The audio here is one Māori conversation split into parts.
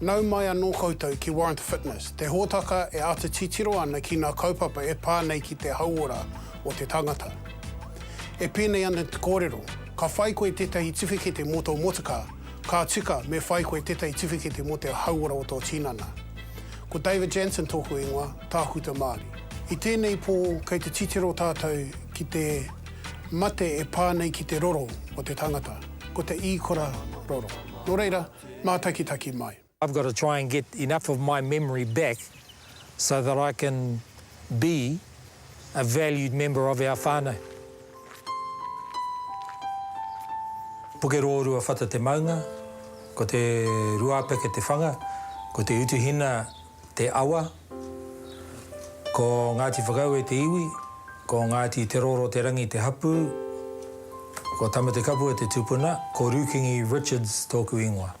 Nau mai anō koutou ki Warrant Fitness, te hōtaka e āta titiro ana ki ngā kaupapa e pā nei ki te hauora o te tangata. E pēnei ana te kōrero, ka whai koe tētahi tiwhikete mō tō motukā, ka tika me whai koe tētahi tiwhikete mō te hauora o tō tinana. Ko David Jansen tōku ingoa, Tākuta Māori. I tēnei pō, kei te titiro tātou ki te mate e pā nei ki te roro o te tangata, ko te īkora roro. Nō reira, mātakitaki mai. I've got to try and get enough of my memory back so that I can be. a valued member of our whānau. Pukerōrua whata te maunga, ko te ruāpeke te whanga, ko te utuhina te awa, ko Ngāti Whakaue te iwi, ko Ngāti Te Roro te rangi te hapū, ko Tamatekapua te tupuna, ko Rūkingi Richards tōku ingoa.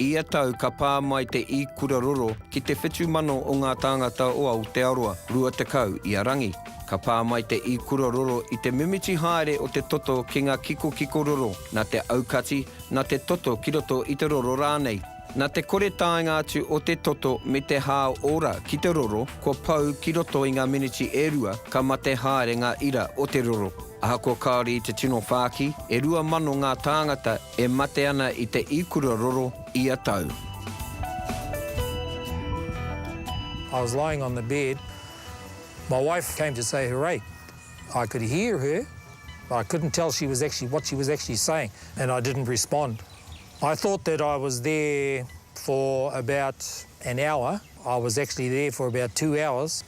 Ia tau ka pā mai te ikura roro ki te whitu mano o ngā tāngata o Aotearoa, 20 i a Rangi. Ka pā mai te ikura roro i te mimiti haere o te toto ki ngā kikokiko roro, nā te aukati, nā te toto ki roto i te roro rānei. Nā te kore taenga atu o te toto me te hā ora ki te roro, kua pau ki roto i ngā miniti e rua ka mate haere ngā ira o te roro. Ahakoa kāore i te tino whāki, e rua mano ngā tāngata e mate ana i te ikura roro ia tau. I was lying on the bed, my wife came to say her rate, I could hear her but I couldn't tell she was actually what she was actually saying and I didn't respond. I thought that I was there for about an hour, I was actually there for about two hours.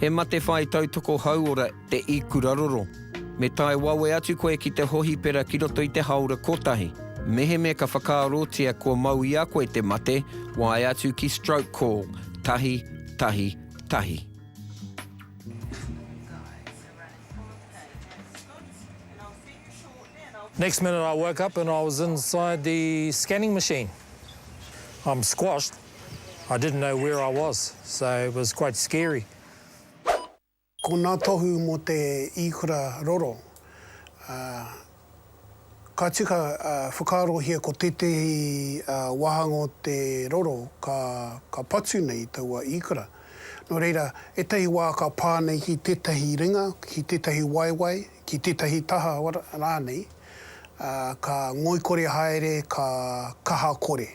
He mate whai tautoko hauora te ikuraroro. Me tae wawe atu koe ki te hohipera ki roto i te haora kotahi. Meheme ka whakaarotia kua mau i a koe te mate, wae atu ki Stroke Call, tahi, tahi, tahi. Next minute I woke up and I was inside the scanning machine. I'm squashed. I didn't know where I was, so it was quite scary. Ko nā tohu mō te īkura roro, ka tika whakaarohia ko tētehi wāhanga o te roro ka patu nei taua īkura. Nō reira, ētahi wā ka pā nei ki tētahi ringa, ki tētahi waewae, ki tētahi taha rānei, ka ngoikore haere, ka kaha kore.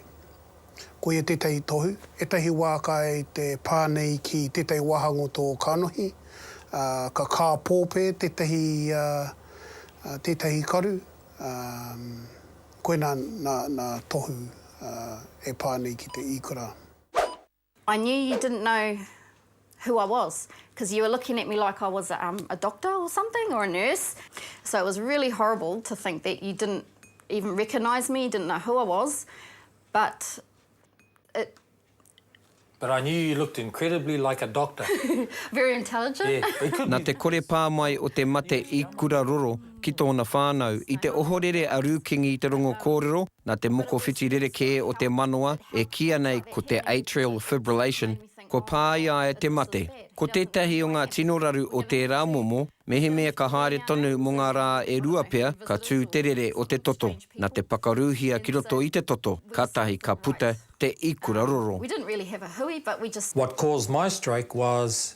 Koia tētahi tohu, ētahi wā kai te pā nei ki tētahi wāhanga o tō kanohi, ā, ka kāpōpē tētahi, ā, tētahi karu, ā, koina nā, nā tohu, ā, e pā nei ki te īkura. I knew you didn't know who I was cause you were looking at me like I was a um a doctor or something or a nurse so it was really horrible to think that you didn't even recognise me, didn't know who I was but it But I knew you looked incredibly like a doctor. Very intelligent. Yeah, it could be. Na te kore pā mai o te mate i Kuraroro ki tōna whānau. I te ohorere a Rūkingi i te rongo kōrero, Nā te mokowhiti rerekē o te manawa e kīia nei ko te atrial fibrillation, kua pā i a ia te mate. Ko tētahi o ngā tino raru o tērā momo, mehemea ka haere tonu mō ngā rā e rua pea, ka tū te rere o te toto. Nā te pakaruhia ki roto i te toto, kātahi ka puta te ikura roro. What caused my stroke was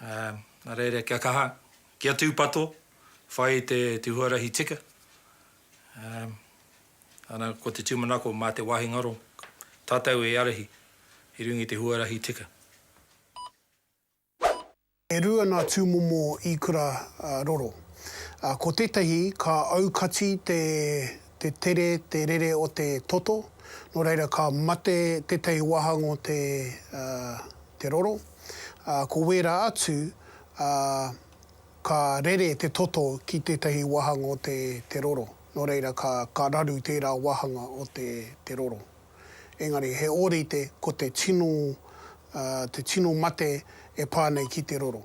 Nā reira kia kaha, kia tūpato, whai i te huarahi tika. Ana ko te tūmanako mā te wāhi ngaro tātou e arahi i runga i te huarahi tika. E rua nā tūmomo īkura roro. Ko tētahi ka aukati te tere, te rere o te toto, nō reira ka mate tētahi wāhanga o te roro. ā, ko wērā atu, ā, ka rere te toto ki tētahi wāhanga o te, te roro. Nō reira, ka, ka raru tērā wāhanga o te, te roro. Engari, he ōrite ko te tino, ā, te tino mate e pā nei ki te roro.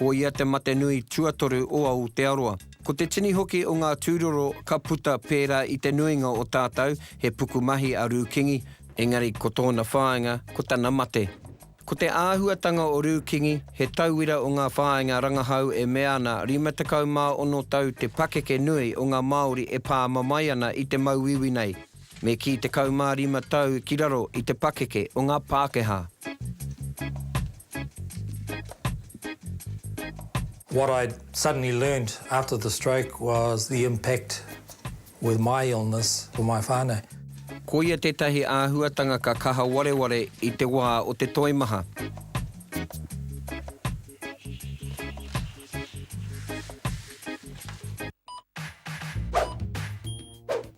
Ko ia te mate nui tuatoru o Aotearoa. Ko te tini hoki o ngā tūroro ka puta pērā i te nuinga o tātou he pukumahi a Rūkingi, engari ko tōna whāinga ko tana mate. Ko te āhuatanga o Rūkingi, he tauira o ngā whāinga rangahau e mea ana 56 tau te pakeke nui o ngā Māori e pāma mai ana i te mauiui nei, me kī 15 tau ki raro i te pakeke o ngā Pākehā. What I suddenly learned after the stroke was the impact with my illness for my whānau. Koia tētahi āhuatanga ka kaha wareware i te wā o te toimaha.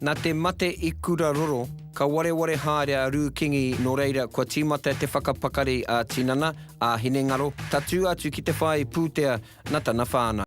Nā te mate i Kura Roro, ka wareware haere a Rū Kingi nō reira kua tīmata te whakapakari a Tinana, a Hinengaro, tatū atu ki te whāi pūtea na tana whānau.